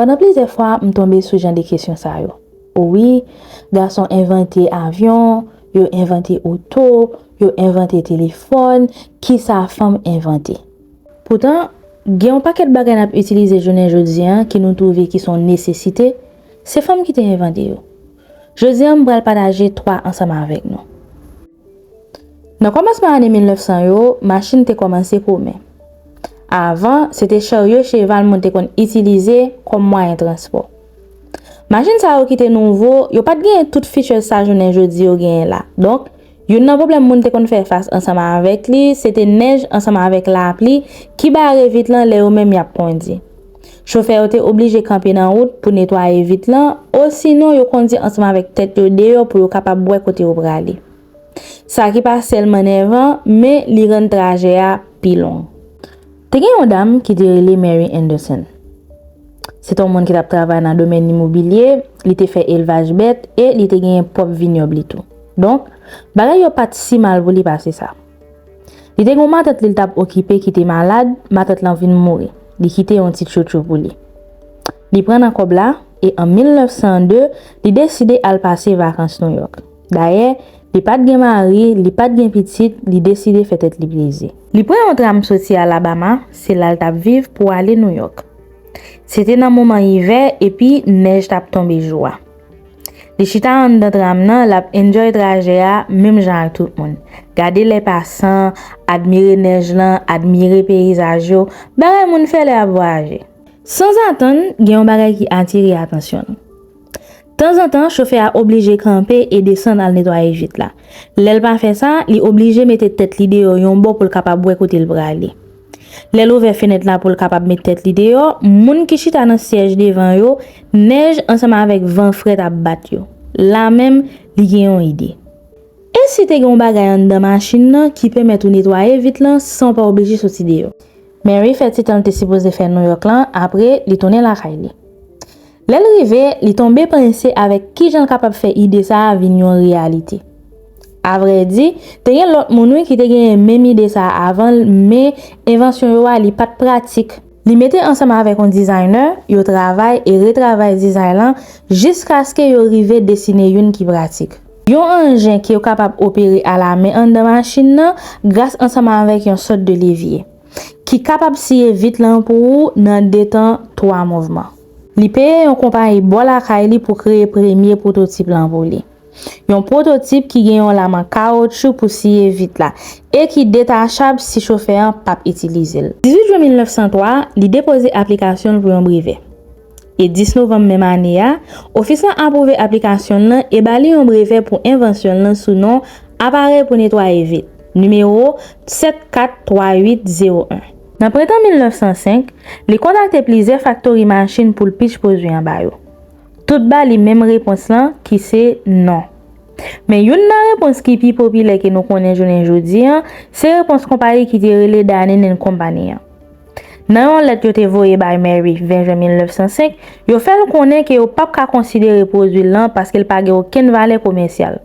Pandan plizyè fwa m tonbe sou jan de kesyon sa yo. O wi, gason envante avyon, yo envante oto, yo envante telefòn, kisa fanm envante? Poutan, gen yon pakèt bagay n ap itilize jounen jodi an ki nou twouve ki son nesesite, se fanm ki te envante yo. Jodi an m pral pataje twa ansanm avèk nou. Nan kòmansman ane 1900 yo, machin te kòmanse komen. Avan, se te charyo cheval moun te konn itilize kòm mwayen transpò. Machin sa yo ki te nouvo, yo pa t genyen tout features sa jounen jodi yo genyen la. Donk, youn nan pwoblèm moun te konn fè fas ansanm avèk li, se te nèj ansanm avèk lapli ki bare vit lan lè yo menm y ap kondi. Chofè yo te oblije kanpe nan wout pou netwaye vit lan, osinon yo kondi ansanm avèk tèt yo deyò pou yo kapab wè kote yo prale. Sa ki pa sèlman nèvan, men li rann trajè a pi long. Te gen yon dam ki te rele Mary Anderson. Se te yon moun ki t ap travay nan domèn imobilye, li te fè elvaj bèt e li te genyen pwòp vinyòb li tou. Donk, bagay yo pa t si mal pou li pase sa. Li te gen yon matant li l t ap okipe ki te malad, matant lan vin mouri, li kite yon ti tchotcho pou li. Li pran nan kòb la, e an 1902, li deside al pase vakans Nouyòk. Dayè, li pa t gen mari, li pa t gen pitit, li deside fè tèt li plezi. Li pran yon tram soti Alabama, se la l t ap viv, pou ale Nouyòk. Se te nan moman ivè, epi nèj t ap tonbe jou a. Li chita anndan tram nan, l ap enjoy trajè a menm jan ak tout moun. Gade lè pasan, admire nèj lan, admire peyizaj yo, bagay moun fè lè y ap vwayaje. Sanzatann, gen yon bagay ki atire atansyon l. Tanzantan, chofè a oblije kanpe e desann al netwaye vit la. Lè l pa fè sa, li oblije mete tèt li deyò yon bò pou l kapab wè kote l prale. Lè l ouvè fenèt la pou l kapab met tèt li deyò, moun ki chita nan syèj devan yo, nèj ansanm avèk van frèt ap bat yo. La menm, li gen yon ide. E si te gen yon bagay anndan machin nan ki pèmèt ou netwaye vit lan san w pa oblije soti deyò? Mary fè ti tan l te sipoze fè Nouyòk lan, apre, li tounen lakay li. Lè l rive, li tonbe panse avèk ki jan l kapab fè ide sa a vin yon reyalite. Avrèdi, te gen lòt moun wi ki te genyen menm ide sa a avan l men envansyon yo a li pa t pratik. Li mete ansanm avèk yon designer, yo travay e retravay dizay lan jiskaske yo rive desine youn ki pratik. Yon anjen ke yo kapab opere alamen anndan machin nan gras ansanm avèk yon sòt de levye, ki kapab siye vit lan pou ou nan de tan twa mouvman. Li peye yon konpayi bò lakay li pou kreye premye pwototip lan pou li. Yon pwototip ki gen yon laman kawotchou pou siye vit la e ki detachab si chofè an p ap itilize l. 18 jwen 1903, li depoze aplikasyon l pou yon brevè. E 10 novanm menm ane a, ofis lan apwouve aplikasyon l lan e ba li yon brevè pou envansyon l lan sou non Aparèy pou netwaye vit, nimewo 74380. Nan prentan 1905, li kontakte plizyè faktori machin pou l pitch pwodui anba yo. Tout ba li menm repons lan ki se non. Men youn nan repons ki pi popilè ke nou konnen jounen jodi an, se repons konpayi ki te rele Danin and Company an. Nan yon lèt yo te voye bay Mary 20 jen 1905, yo fè l konnen ke yo pap ka konsidere pwodui l lan paske l pa gen okenn valè komèsyal.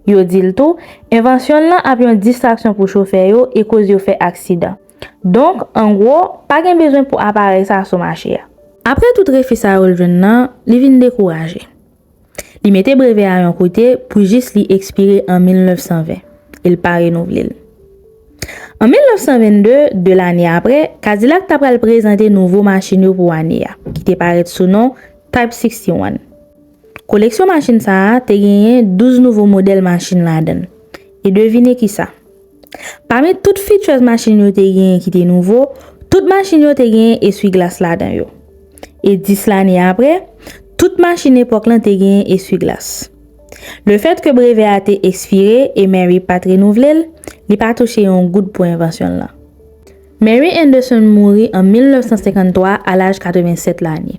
Yo di l tou, envansyon l lan ap yon distraksyon pou chofè yo e koz yo fè aksidan. Donk, an gwo, pa gen bezwen pou aparèy sa sou mache a. Apre tout refi sa yo l jwenn lan, li vin dekouraje. Li mete brevè a yon kote pou jis li ekspire an 1920, e l pa renouvle l. An 1922, 2 lane apre, Kadilak ta pral prezante nouvo machin yo pou ane a, ki te parèt sou non Type 61. Koleksyon machin sa a te genyen 12 nouvo modèl machin ladan l. E devine ki sa? Pami tout features machin yo te genyen ki te nouvo, tout machin yo te genyen eswi glas ladan yo. E 10 lane apre, tout machin epòk lan te genyen eswi glas. Le fèt ke brevè a te ekspire e Mary pa t renouvle l, li pa touche yon goud pou envansyon l lan. Mary Anderson mouri an 1953 a laj 87 lane.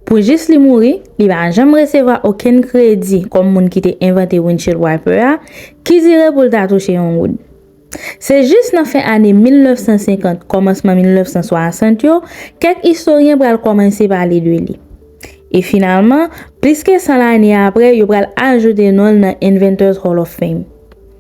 Pou jis li mouri, li pa janm resevwa okenn kredi kòm moun ki te envante windshield wiper a, ki dire pou l ta touche yon goud. Se jis nan fen ane 1950, kòmansman 1960 yo, kèk istoryen pral kòmanse pale de li. E finalman, plis ke 100 lane apre, yo pral ajoute non l nan Inventors Hall of Fame.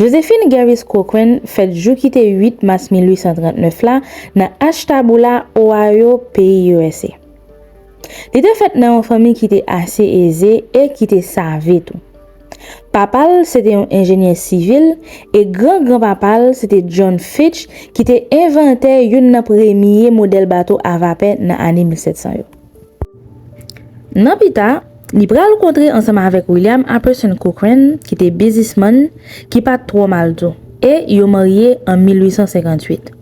Josephine Gervais Cochran fèt jou ki te 8 mas 1839 la nan Ashtabula, Ohio, peyi usa. Li te fèt nan yon fanmi ki te ase eze e ki te save tou. Papa l se te yon enjenyè sivil e gran gran papa l se te John Fitch ki te envantè youn nan premye modèl bato a vapè nan ane 1700 yo. Nan pita, li pral kontre ansanm avèk William Apperson Cochran ki te bizismann ki pa t twò mal tou, e yo marye an 1858.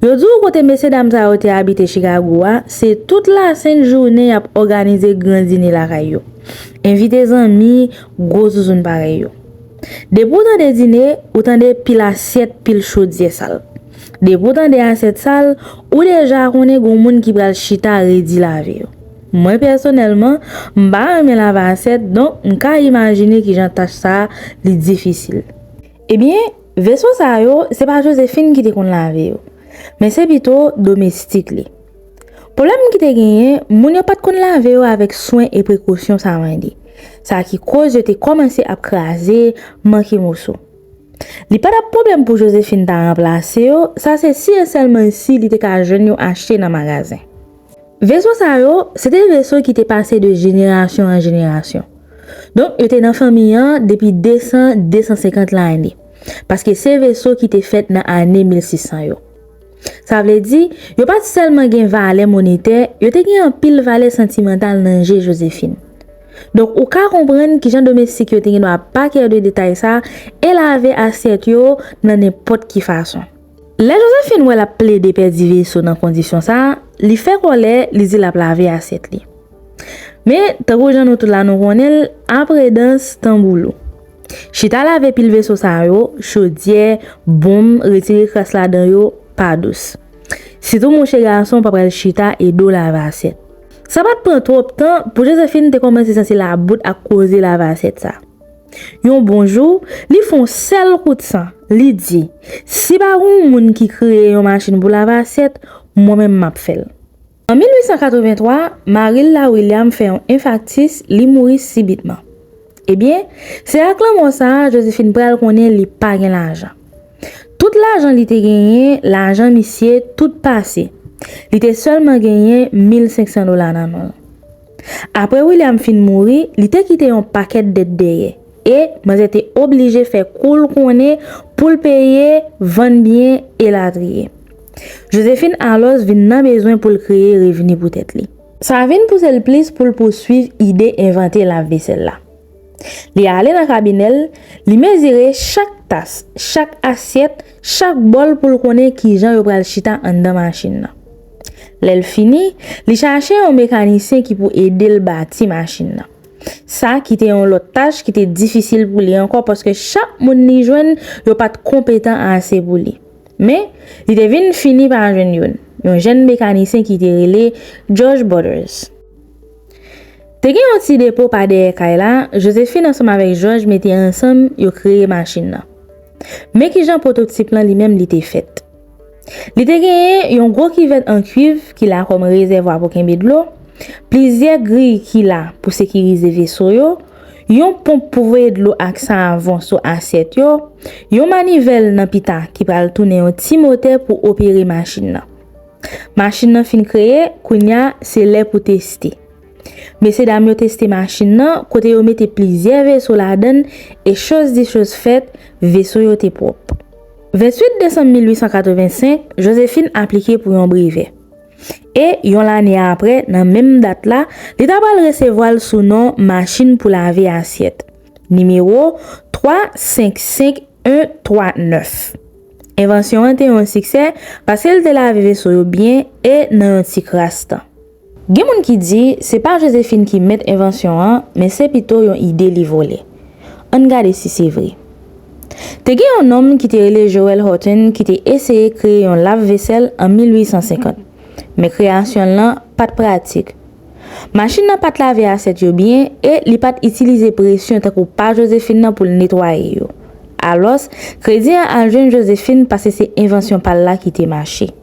Yo di w kote mesyedam sa yo te abite Chikago a, se tout lasent jounen y ap òganize gran dine lakay yo, envite zanmi, gwo zouzoun parèy yo. Depi w tande dine, ou tande pil asyèt, pil chodyè sal. Depi w tande asyèt sal, ou deja konnen gon moun ki pral chita redi lave yo. Mwen pèsonèlman, m pa renmen lave asyèt donk m ka imajine kijan tach sa li difisil. Ebyen, veso sa yo, se pa Jozefin ki te konn lave yo, men se pito domestik li. Pwoblèm ki te genyen, moun yo pa t konn lave yo avèk swen e prekosyon sa mande, sa ki koz yo te kòmanse ap kraze, manke moso. Li pa t ap pwoblèm pou Jozefin ta ranplase yo, sa se si e sèlman si li te ka jwenn yo achte nan magazen. Veso sa yo, se te veso ki te pase de jenerasyon an jenerasyon. Donk yo te nan fanmi an depi 200, 250 lane, paske se veso ki te fèt nan ane 1600 yo. Sa vle di, yo pa t sèlman gen valè monetè, yo te gen anpil valè santimantal nan je Josephine. Donk ou ka konprann ki jan domestik yo te gen dwa pa kè de detay sa e lave asyèt yo nan nenpòt ki fason. Lè Josephine wè l ap plede pèdi veso nan kondisyon sa, li fè kòlè, li di l ap lave asyèt li. Men, tankou jan nou tout la nou konnen l, apre dans, tanbou lou. Chita lave pil veso sa yo, chodyè, bonm, retire kras ladan yo, pa dous. Sitou mouche gason pa pral chita e do lave asyèt. Sa pa t pran twòp tan pou Josephine te kòmanse santi labout ak koze lave asyèt sa. Yon bon jou, li fon sèl kout san, li di, Si pa gon moun ki kreye yon machin pou lave asyèt, mwen menm m ap fè l. An 1883, mari l la, William, fè yon enfaktis, li mouri sibitman. Ebyen, se ak lanmò sa a, Josephine pral konnen li pa gen lajan. Tout lajan li te genyen, lajan misye, tout pase. Li te sèlman genyen 1500 dola nan non l. Apre William fin mouri, li te kite yon pakèt dèt dèyè, e, manzè te oblije fè kou l konnen pou l peye, vann byen, elatriye. Josephine alòs vin nan bezwen pou l kreye revni pou tèt li. Sa vin pouse l plis pou l pouswiv ide envante lav vesèl la. Li ale nan kabinè l, li mezire chak tas, chak asyèt, chak bòl pou l konnen kijan yo pral chita anndan machin nan. Lè l fini, li chache yon mekanisyen ki pou ede l bati machin nan. Sa ki te yon lòt tach ki te difisil pou li ankò paske chak moun li jwenn yo pa t konpetan ase pou li. Men, li te vin fini pa jwenn youn, yon jenn mekanisyen ki te rele Jòj Bòdèz. Te gen yon ti depo pa dèyè kay la, Jozefin ansanm avèk Jòj mete ansanm yo kreye machin nan. Men ki jan pwototip lan li menm li te fèt. Li te genyen yon gwo kivèt an kuiv ki la kòm rezèvwa pou kenbe dlo, plizyè griy ki la pou sekirize veso yo, yon ponp pou voye dlo ak savon sou asyèt yo, yon manivèl nan pita ki pral tounen yon ti motè pou opere machin nan. Machin nan fin kreye, kounye a, se lè pou teste. Mesye dam yo teste machin nan, kote yo mete plizyè veso ladan l e choz di choz fèt, veso yo te pwòp. 28 desanm 1885, Josephine aplike pou yon brevè. E, yon lane apre, nan menm dat la, li ta pral resevwa l sou non machin pou lave asyèt. Nimewo 3, 5, 5, 1, 3, 9. Envansyon an te yon siksè paske l te lave veso yo byen e nan yon ti kras tan. Gen moun ki di, se pa Jozephine ki mèt envansyon an, men se pito yon ide li vole. Ann gade si se vre. Te gen yon nonm ki te rele Joel Horton ki te eseye kreye yon lav vesèl an 1850. Men kreyasyon l lan pa t pratik. Machin nan pa t lave asyèt yo byen e li pa t itilize presyon tankou pa Josephine nan pou l netwaye yo. Alòs, kredi an al jwenn Josephine pase se envansyon pa l la ki te mache.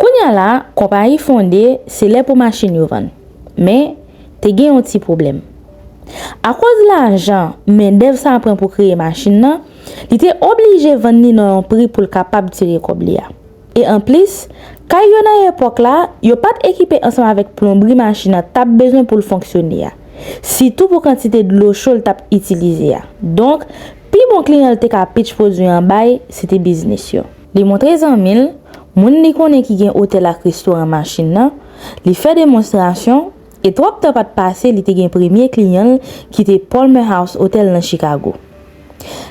Kounya la, konpayi fonde, se lè pou machin yo vann. Men, te gen yon ti pwoblèm. Akoz lajan, mendèv sa pran pou kreye machin nan, li te oblije vann li nan yon pri pou l kapab tire kòb li a. E anplis, kay yo nan epòk la, yo pa t ekipe ansanm avèk plonbri machin nan t ap bezwen pou l fonksyone a, sitou pou kantite dlo cho l t ap itilize a. Donk, pi bon kliyan l te ka pitch pwodui an bay, se te biznis yo. Li montre zanmi l, moun li konnen ki gen otèl ak restoran machin nan, li fè demonstrasyon, e twòp tan pa t pase li te gen premye kliyan l ki te Palmer House Hotel nan Chikago.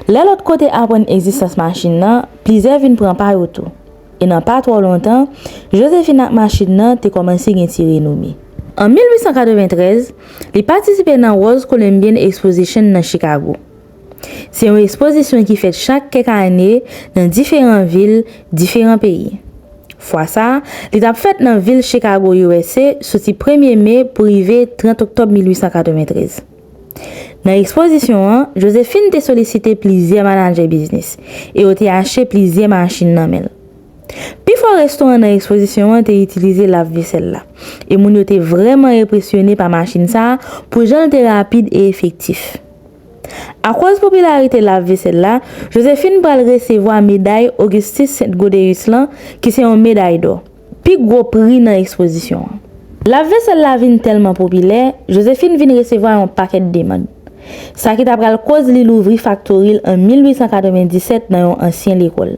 Lè lòt kote aprann egzistans machin nan, plizyè vin pran pa yo tou, e nan pa twò lontan, Josephine ak machin nan te kòmanse gen ti renome. An 1893, li patisipe nan Rose Columbian Exposition nan Chikago. Se yon espozisyon ki fèt chak kèk ane nan diferan vil diferan peyi. Fwa sa, li tap fèt nan vil Chikago usa soti premye me pou rive 30 oktòb 1893. Nan espozisyon an, Josephine te solisite plizyè manadjè biznis e yo te achte plizyè machin nan men l. Pifò restoran nan espozisyon an te itilize lav vesèl la, e moun yo te vrèman enpresyone pa machin sa pou jan l te rapid e efektif. Akoz popilarite lavvesèl la, Josephine pral resevwa meday Augustus Sainte-Gaudéus lan ki se yon meday dò, pi gwo pri nan ekspozisyon an. Lavvesèl la vin tèlman popilè, Josephine vin resevwa yon pakèt demann. Sa ki ta pral koz li louvri faktori l an 1897 nan yon ansyen lekòl.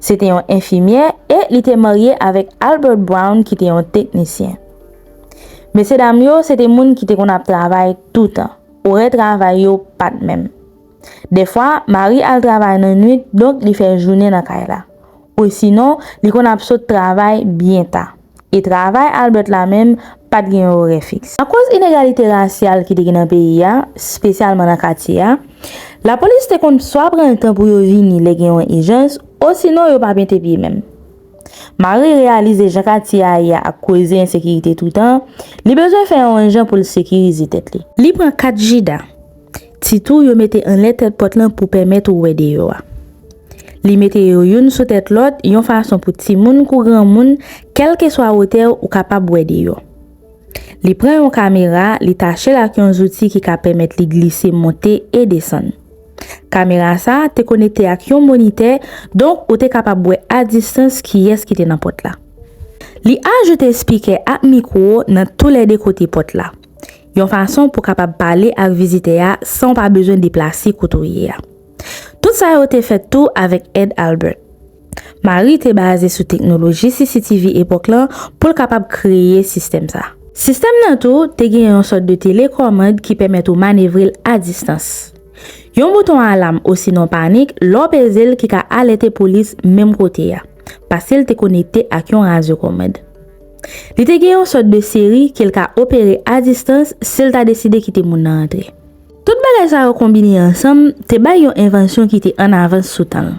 Se te yon enfimyè e li te marye avèk Albert Brown ki te yon teknisyen. Mesye dam yo se te moun ki te konn ap travay toutan. Orè travay yo pa t menm. Dèfwa, Mari al travay nan nuit donk li fè jounen nan kay la. Osinon, li konn ap sot travay byen ta. e travay Albert la menm pa t gen yon orè fiks. Akoz inegalite rasyal ki te gen nan peyi a, spesyalman nan katye a, lapolis te konn swa pran l tan pou yo vini lè gen yon ijans, osinon yo pa mete pye menm. Marie reyalize jan katye a ye a ak koze ensekirite toutan, li bezwen fè yon jan pou l sekirize tèt li. Li pran kat jida. Ti tou yo mete anlè tèt pòt lan pou pèmèt ou wè deyò a. Li mete yo youn sou tèt lòt yon fason pou timoun kou granmoun, kèlkeswa wotè ou kapab wè deyò. Li pran yon kamera, li tache l ak yon zouti ki ka pèmèt li glise monte e desann. Kamera sa a te konekte ak yon monitè, donk ou te kapab wè a distans kiyès ki te nan pòt la. Li ajoute spikè ak mikwo nan toulède kote pòt la. Yon fason pou kapab pale ak vizitè a san w pa bezwen deplase kote w ye a. Tout sa yo te fèt tou avèk èd Albert. Marie te baze sou teknoloji CCTV epòk lan pou l kapab kreye sistèm sa. Sistèm nan tou te gen yon sòt de telekòmand ki pèmèt ou manevre l a distans. Yon bouton alam osinon panik lè w peze l ki ka alète polis menm kote a, paske l te konekte ak yon radyokomand. Li te gen yon sòt de seri ke l ka opere a distans si l ta deside kite moun nan antre. Tout bagay sa yo konbine ansanm te bay yon envansyon ki te an avans sou tan l.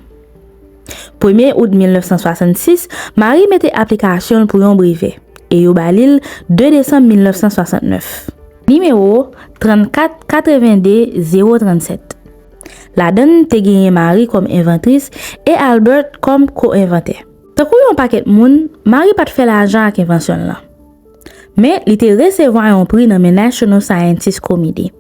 Premye out 1966, Marie mete aplikasyon l pou yon brevè, e yo ba li l 2 desanm 1969. Nimewo 34 82 037 Ladan l te genyen Marie kòm envantris e Albert kòm ko-envantè. Tankou yon pakèt moun, Marie pa t fè lajan ak envansyon l lan. Men, li te resevwa yon pri nan men National Scientist Committee.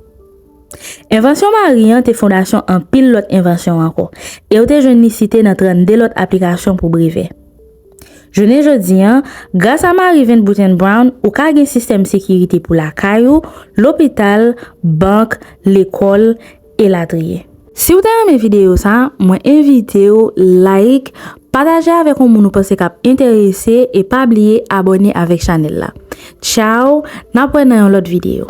Envansyon Marie an te fondasyon anpil lòt envansyon ankò, e yo te jwenn li site nan 32 lòt aplikasyon pou brevè. Jounen jodi a, grasa Marie Van Buttenbrown, ou ka gen sistèm sekirite pou lakay ou, lopital, bank, lekòl, elatriye. Si w te renmen videyo sa, mwen envite w like, pataje avèk yon moun ou panse k ap enterese e pa bliye abòne avèk chanèl la. Tchaw, n ap wè nan yon lòt videyo.